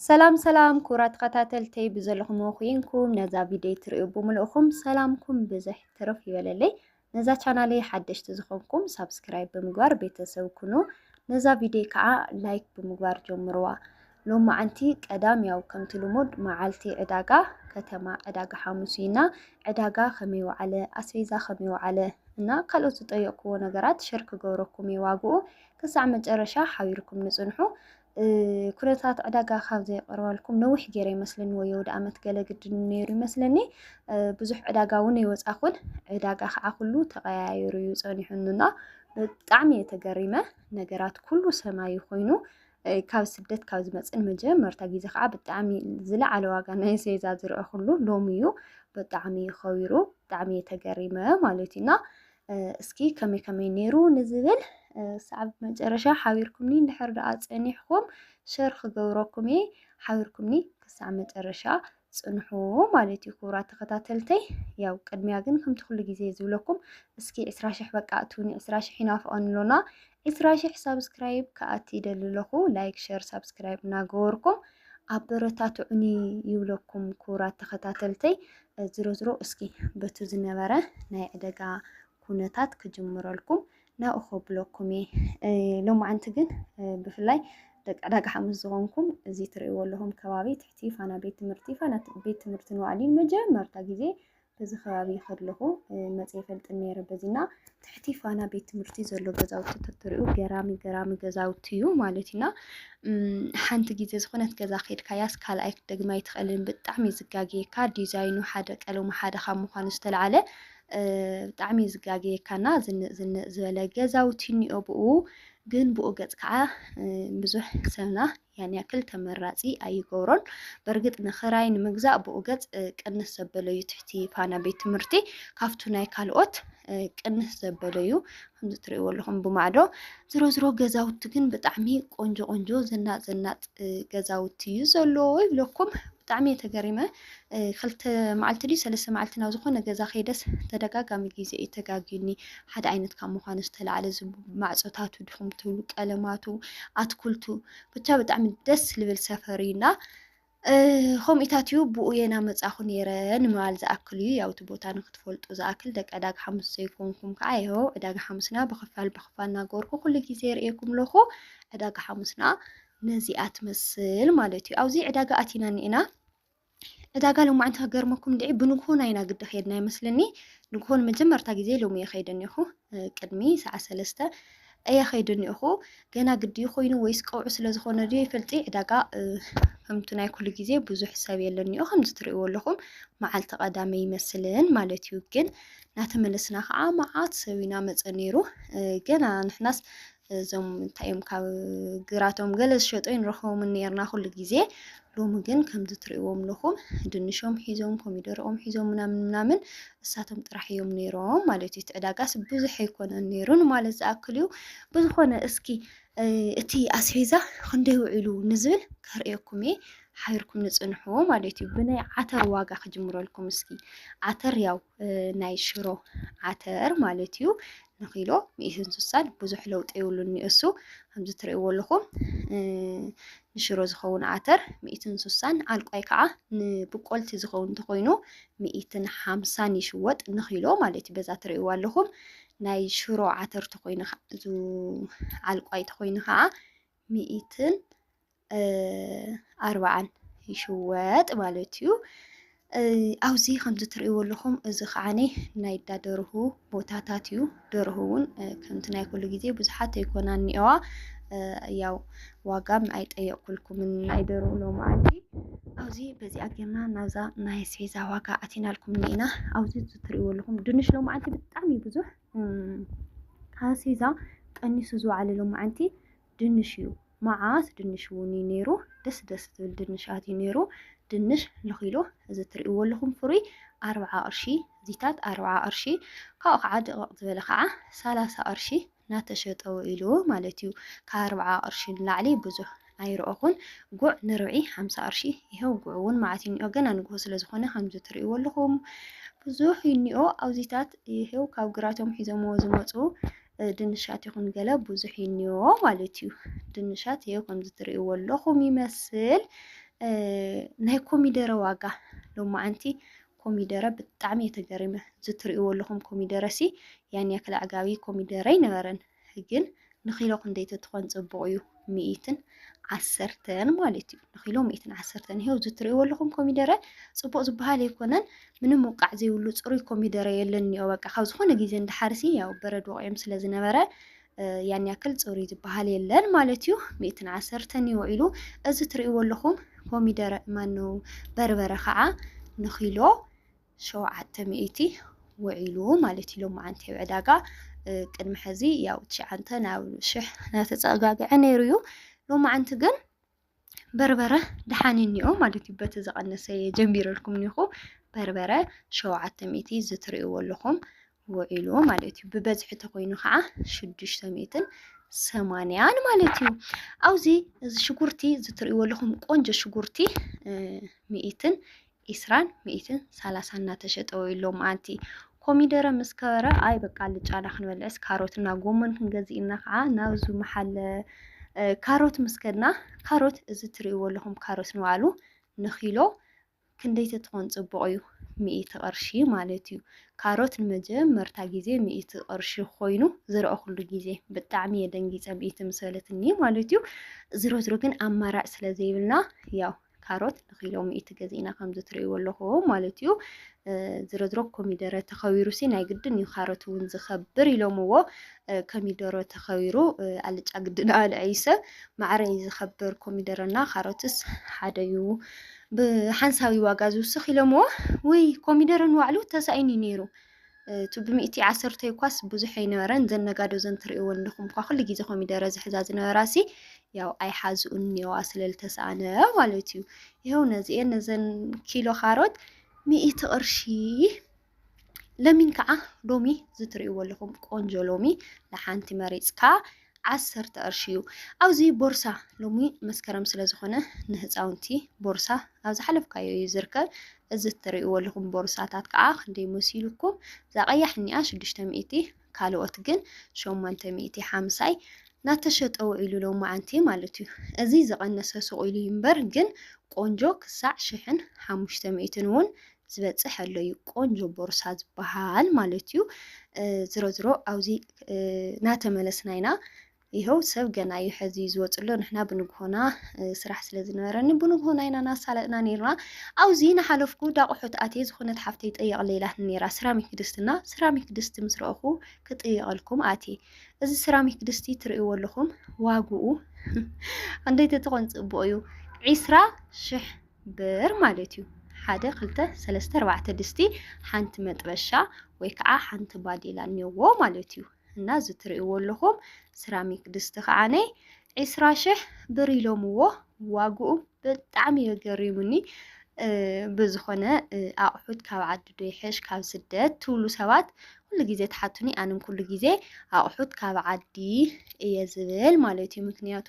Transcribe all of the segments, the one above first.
ሰላም ሰላም ክቡራት ተኸታተልተይ ብዘለኹምዎ ኩይንኩም ነዛ ቪድዮ ትርእዩ ብምልእኹም ሰላምኩም ብዝሕ ትርፍ ይበለለይ። ነዛ ቻናለይ ሓደሽቲ ዝኾንኩም ሳብስክራይብ ብምግባር ቤተሰብ ኩኑ። ነዛ ቪድዮ ከዓ ላይክ ብምግባር ጀምርዋ። ሎም መዓንቲ ቀዳም ያው ከምቲ ልሙድ መዓልቲ ዕዳጋ ከተማ ዕዳጋ ሓሙስ ኢና። ዕዳጋ ከመይ ወዓለ፣ ኣስቤዛ ከመይ ወዓለ እና ካልኦት ዝጠየቅኩዎ ነገራት ሸር ክገብረኩም የዋግኡ ክሳዕ መጨረሻ ሓቢርኩም ንፅንሑ። ኩነታት ዕዳጋ ካብ ዘይቐርባልኩም ነዊሕ ገይረ ይመስለኒ ወይ ወደ ኣመት ገለ ግድን ነይሩ ይመስለኒ ብዙሕ ዕዳጋ እውን ይወፃኹን ዕዳጋ ከዓ ኩሉ ተቀያይሩ እዩ ፀኒሑንና ብጣዕሚ እየ ተገሪመ ነገራት ኩሉ ሰማይ ኮይኑ ካብ ስደት ካብ ዝመፅን መጀመርታ ግዜ ከዓ ብጣዕሚ ዝለዓለ ዋጋ ናይ ሴዛ ዝርኦ ኩሉ ሎሚ እዩ ብጣዕሚ ከቢሩ ብጣዕሚ እየ ተገሪመ ማለት እዩና እስኪ ከመይ ከመይ ነይሩ ንዝብል ሰዓብ መጨረሻ ሓቢርኩምኒ እንድሕር ደኣ ጸኒሕኩም ሸር ክገብረኩም እየ ሓቢርኩምኒ ክሳዕ መጨረሻ ጽንሑ ማለት እዩ ክቡራት ተኸታተልተይ ያው ቅድሚያ ግን ከምቲ ኩሉ ግዜ ዝብለኩም እስኪ ዕስራ ሽሕ በቃ እትውኒ ዕስራ ሽሕ ይናፍቐን ኣሎና ዕስራ ሽሕ ሳብስክራይብ ከኣቲ ይደሊ ኣለኹ ላይክ ሸር ሳብስክራይብ እናገበርኩም ኣበረታትዑኒ ይብለኩም ክቡራት ተኸታተልተይ ዝሮ ዝሮ እስኪ በቱ ዝነበረ ናይ ዕደጋ ኩነታት ክጅምረልኩም ናብኡ ከብለኩም እየ ሎማዓንቲ ግን ብፍላይ ደቂ ዕዳጋ ሓሙስ ዝኾንኩም እዚ ትርእይዎ ኣለኹም ከባቢ ትሕቲ ፋና ቤት ትምህርቲ ፋና ቤት ትምህርቲ ንባዕሊ መጀመርታ ግዜ በዚ ከባቢ ከለኹ መፅየ ፈልጥ ነይረ በዚና ትሕቲ ፋና ቤት ትምህርቲ ዘሎ ገዛውቲ ተትሪኡ ገራሚ ገራሚ ገዛውቲ እዩ ማለት እዩና ሓንቲ ግዜ ዝኾነት ገዛ ከድካያስ ካልኣይ ክትደግማ ኣይትኽእልን ብጣዕሚ ዝጋግየካ ዲዛይኑ ሓደ ቀለሙ ሓደ ካብ ምዃኑ ዝተለዓለ ብጣዕሚ ዝጋግየካና ዝንእ ዝንእ ዝበለ ገዛውቲ እኒኦ ብኡ ግን ብኡ ገፅ ከዓ ብዙሕ ሰብና ያን ያክል ተመራጺ ኣይገብሮን። በርግጥ ንክራይ ንምግዛእ ብኡ ገጽ ቅንስ ዘበለ እዩ ትሕቲ ፋና ቤት ትምህርቲ ካብቱ ናይ ካልኦት ቅንስ ዘበለ እዩ ከምዚ ትርእይዎ ኣለኹም ብማዕዶ ዝሮ ዝሮ ገዛውቲ ግን ብጣዕሚ ቆንጆ ቆንጆ ዘናጥ ዘናጥ ገዛውቲ እዩ ዘለዎ ይብለኩም ብጣዕሚ እየ ተገሪመ ክልተ መዓልቲ ድዩ ሰለስተ መዓልቲ ናብ ዝኾነ ገዛ ከይደስ ተደጋጋሚ ግዜ እዩ ተጋግዩኒ። ሓደ ዓይነት ካብ ምዃኑ ዝተላዕለ እዚ ማዕፆታቱ ድኹም ትብሉ ቀለማቱ፣ ኣትኩልቱ ብቻ ብጣዕሚ ደስ ልብል ሰፈር እዩ እና ከምኡታት እዩ ብኡ የና መጻኹ ነይረ ንምባል ዝኣክል እዩ ያው እቲ ቦታ ንክትፈልጡ ዝኣክል ደቂ ዕዳጋ ሓሙስ ዘይኮንኩም ከዓ ይሆ ዕዳጋ ሓሙስና ብክፋል ብክፋል እናገበርኩ ኩሉ ግዜ ርእየኩም ኣለኹ ዕዳጋ ሓሙስና ነዚኣ ትመስል ማለት እዩ ኣብዚ ዕዳጋ ኣቲና ኒዕና እታ ጋል ሎማዓንቲ ከገርመኩም ድዒ ብንግሆ ናይ ኢና ግዲ ከይድና ይመስለኒ ንግሆ ንመጀመርታ ግዜ ሎሚ እየ ከይደ እኒኹ ቅድሚ ሰዓት ሰለስተ እየ ከይደ እኒኹ ገና ግዲ ኮይኑ ወይስ ቀውዑ ስለ ዝኾነ ድዩ ይፈልጢ ዕዳጋ ከምቲ ናይ ኩሉ ግዜ ብዙሕ ሰብ የለኒኦ ከምዚ ትሪእዎ ኣለኹም መዓልቲ ቀዳመ ይመስልን ማለት እዩ ግን ናተመለስና ከዓ መዓት ሰብ ኢና መፀ ነይሩ ገና ንሕናስ እዞም እንታይ እዮም ካብ ግራቶም ገለ ዝሸጡ ንረኽቦም ነርና ኩሉ ግዜ ሎሚ ግን ከምዚ ትርእዎም ኣለኹም ድንሾም ሒዞም ኮሚደሮኦም ሒዞም ምናምን ምናምን እሳቶም ጥራሕ እዮም ነይሮም ማለት እዩ። እቲ ዕዳጋስ ብዙሕ ኣይኮነን ነይሩ ንማለት ዝኣክል እዩ። ብዝኾነ እስኪ እቲ ኣስቤዛ ክንደይ ውዒሉ ንዝብል ከርእየኩም እየ ሓቢርኩም ንፅንሑ ማለት እዩ። ብናይ ዓተር ዋጋ ክጅምረልኩም እስኪ ዓተር ያው ናይ ሽሮ ዓተር ማለት እዩ ንኪሎ ሚእቲ እንስሳን ብዙሕ ለውጢ የብሉን ኒኡሱ ከምዚ ትርእይዎ ኣለኹም ንሽሮ ዝኸውን ዓተር ሚእቲ እንስሳን ዓልቋይ ከዓ ንብቆልቲ ዝኸውን እንተኾይኑ ሚእትን ሓምሳን ይሽወጥ ንኪሎ ማለት እዩ በዛ ትርእይዎ ኣለኹም ናይ ሽሮ ዓተር ተኾይኑ ዓልቋይ ተኾይኑ ከዓ ሚእትን ኣርብዓን ይሽወጥ ማለት እዩ። ኣብዚ ከምዚ ትርእይዎ ኣለኹም እዚ ከዓኒ ናይ እንዳ ደርሁ ቦታታት እዩ። ደርሁ እውን ከምቲ ናይ ኩሉ ግዜ ብዙሓት ኣይኮናን እኒኦዋ ያው ዋጋም ኣይጠየቕኩልኩምን ናይ ደርሁ ሎምዓንቲ ኣብዚ በዚኣ ጌርና ናብዛ ናይ ኣስቤዛ ዋጋ ኣቲናልኩም እኒኢና ኣብዚ ትርእይዎ ኣለኹም ድንሽ ሎምዓንቲ ብጣዕሚ ብዙሕ ኣስቤዛ ቀኒሱ ዝወዓለ ሎምዓንቲ ድንሽ እዩ ማዓት ድንሽ እውን እዩ ነይሩ ደስ ደስ ዝብል ድንሽ ኣትዩ ነይሩ ድንሽ ንኪሎ እዚ እትሪእዎ ኣለኹም ፍሩይ ኣርብዓ ቅርሺ ዚታት ኣርብዓ ቅርሺ ካብኡ ከዓ ድቕቕ ዝበለ ከዓ ሰላሳ ቅርሺ እናተሸጠ ውዒሉ ማለት እዩ ካብ ኣርብዓ ቅርሺ ንላዕሊ ብዙሕ ኣይረኦኹን ጉዕ ንርብዒ ሓምሳ ቅርሺ ይኸው ጉዕ እውን መዓት እዩ እኒኦ ገና ንግሆ ስለ ዝኾነ ከምዚ ትርእይዎ ኣለኹም ብዙሕ እዩ እኒኦ ኣብዚታት ይኸው ካብ ግራቶም ሒዞምዎ ዝመፁ ድንሻት ይኹን ገለ ብዙሕ ይንዮ ማለት እዩ። ድንሻት ይኸው ከምዚ ትርእይዎ ኣለኹም ይመስል። ናይ ኮሚደረ ዋጋ ሎማዓንቲ ኮሚደረ ብጣዕሚ እየ ተገሪመ። እዚ ትርእይዎ ኣለኹም ኮሚደረ ሲ ያን ያክል ኣዕጋቢ ኮሚደረ ኣይነበረን፣ ግን ንኪሎ ክንደይ ተትኾን ፅቡቕ እዩ። ሚኢትን ዓሰርተን ማለት እዩ ንኪሎ ሚኢትን ዓሰርተን ይሄው እዚ ትሪእዎ ኣለኹም ኮሚደረ ፅቡቅ ዝበሃል ኣይኮነን ምንም ውቃዕ ዘይብሉ ፅሩይ ኮሚደረ የለን እኒኦ በቃ ካብ ዝኾነ ግዜ እንዳሓርሲ ያው በረድ ወቂዕም ስለ ዝነበረ ያን ያክል ፅሩይ ዝበሃል የለን ማለት እዩ ሚእትን ዓሰርተን እዩ ውዒሉ እዚ ትሪእዎ ኣለኹም ኮሚደረ ማነው በርበረ ከዓ ንኪሎ ሸውዓተ ሚእቲ ውዒሉ ማለት እዩ ሎማዓንቲ ኣብ ዕዳጋ ቅድሚ ሕዚ ያው ትሽዓንተ ናብ ሽሕ ናተፀጋግዐ ነይሩ እዩ ሎማዓንቲ ግን በርበረ ደሓን እኒኦ ማለት እዩ በቲ ዝቐነሰ ጀሚረልኩም እኒኹ በርበረ ሸውዓተ ሚእቲ ዝትርእይዎ ኣለኹም ውዒሉ ማለት እዩ ብበዝሒ ተኮይኑ ከዓ ሽዱሽተ ሚእትን ሰማንያን ማለት እዩ ኣብዚ እዚ ሽጉርቲ ዝትርእይዎ ኣለኹም ቆንጆ ሽጉርቲ ሚእትን ኢስራን ሚኢትን ሳላሳን እናተሸጠ ውዒሉ ሎምዓንቲ። ኮሚደረ ምስ ከበረ ኣይ በቃ ኣልጫና ክንበልዕስ ካሮት እና ጎመን ክንገዝእ ኢልና ከዓ ናብዙ መሓለ ካሮት ምስ ከድና ካሮት እዚ ትርእይዎ ኣለኹም ካሮት ንባዕሉ ንኪሎ ክንደይ ተትኾን ፅቡቕ እዩ ሚእቲ ቅርሺ ማለት እዩ ካሮት ንመጀመርታ ግዜ ሚእቲ ቅርሺ ኮይኑ ዝረኣኹሉ ግዜ ብጣዕሚ እየ ደንጊፀ ሚእቲ ምስ በለትኒ ማለት እዩ ዝሮ ዝሮ ግን ኣማራጭ ስለ ዘይብልና ያው ካሮት ንኪሎ ሚእቲ ገዚእና ከምዚ ትርእይዎ ኣለኹዎ ማለት እዩ ዝረዝሮ ኮሚደረ ተኸቢሩሲ ናይ ግድን እዩ ካሮት እውን ዝኸብር ኢሎምዎ ኮሚደሮ ተኸቢሩ ኣልጫ ግድን ኣልዐይሰ ማዕረ እዩ ዝኸብር ኮሚደረና ካሮትስ ሓደ እዩ ብሓንሳዊ ዋጋ ዝውስኽ ኢሎምዎ ወይ ኮሚደረ ንባዕሉ ተሳኢኑ ነይሩ እቲ ብሚእቲ ዓሰርተይ እኳስ ብዙሕ ኣይነበረን እዘን ነጋዶ እዘን ትርእይወን ኣለኹም እኳ ኩሉ ግዜ ኮሚደረ ዝሕዛ ዝነበራሲ ያው ኣይሓዝኡን እኒዋ ስለልተሰኣነ ማለት እዩ። ይኸው ነዚኤን ነዘን ኪሎ ካሮት ሚእቲ ቅርሺ ለሚን ከዓ ሎሚ ዝትርእይዎ ኣለኹም ቆንጆ ሎሚ ንሓንቲ መሪፅካ ዓሰርተ ቅርሺ እዩ ኣብዚ ቦርሳ ሎሚ መስከረም ስለ ዝኾነ ንህፃውንቲ ቦርሳ ኣብ ዝሓለፍካዮ እዩ ዝርከብ እዚ እትርእይዎ ኣለኹም ቦርሳታት ከዓ ክንደይ መሲሉኩም እዛ ቀያሕ እኒኣ ሽዱሽተ ሚእቲ ካልኦት ግን ሸሞንተ ሚእቲ ሓምሳይ ናተሸጠ ውዒሉ ሎም መዓንቲ ማለት እዩ እዚ ዝቐነሰ ሱቕ ኢሉ እምበር ግን ቆንጆ ክሳዕ ሽሕን ሓሙሽተ ሚእትን እውን ዝበጽሕ ኣሎ እዩ ቆንጆ ቦርሳ ዝበሃል ማለት እዩ ዝሮ ዝሮ ኣብዚ ናተመለስና ኢና ይኸው ሰብ ገና እዩ ሕዚ ዝወፅሎ ንሕና ብንግሆና ስራሕ ስለ ዝነበረኒ ብንግሆና ኢና ናሳለጥና ነርና ኣብዚ ንሓለፍኩ ዳቑሑት ኣትየ ዝኾነት ሓፍተይ ጠየቕ ሌላትኒ ነራ ስራሚክ ድስትና ስራሚክ ድስቲ ምስ ረእኹ ክጥየቐልኩም ኣትየ እዚ ስራሚክ ድስቲ ትርእይዎ ኣለኹም ዋግኡ እንደይ ተትኾን ፅቡቕ እዩ ዒስራ ሽሕ ብር ማለት እዩ። ሓደ ክልተ ሰለስተ ኣርባዕተ ድስቲ ሓንቲ መጥበሻ ወይ ከዓ ሓንቲ ባዴላ እኒኦዎ ማለት እዩ። እና እዚ ትርእይዎ ኣለኹም ስራሚክ ድስቲ ከዓነ ዒስራ ሽሕ ብር ኢሎምዎ ዋግኡ ብጣዕሚ እዩ ገሪሙኒ። ብዝኾነ ኣቑሑት ካብ ዓዲ ዶ ይሕሽ ካብ ስደት ትብሉ ሰባት ኩሉ ግዜ ትሓቱኒ ኣንም ኩሉ ግዜ ኣቑሑት ካብ ዓዲ እየ ዝብል ማለት እዩ። ምክንያቱ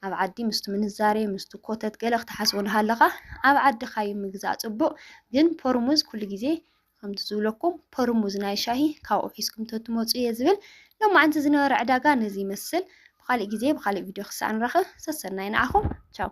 ኣብ ዓዲ ምስቲ ምንዛሬ ምስቲ ኮተት ገለ ክትሓስቦ ንሃለኻ ኣብ ዓድኻ እዩ ምግዛእ ጽቡቕ። ግን ፖርሙዝ ኩሉ ግዜ ከምቲ ዝብለኩም ፖርሙዝ ናይ ሻሂ ካብኡ ሒዝኩም ተትመፁ እየ ዝብል። ሎማዓንቲ ዝነበረ ዕዳጋ ነዚ ይመስል። ብካሊእ ግዜ ብካሊእ ቪድዮ ክሳዕ ንራኸብ ሰሰናይ ንዓኹም ቻው።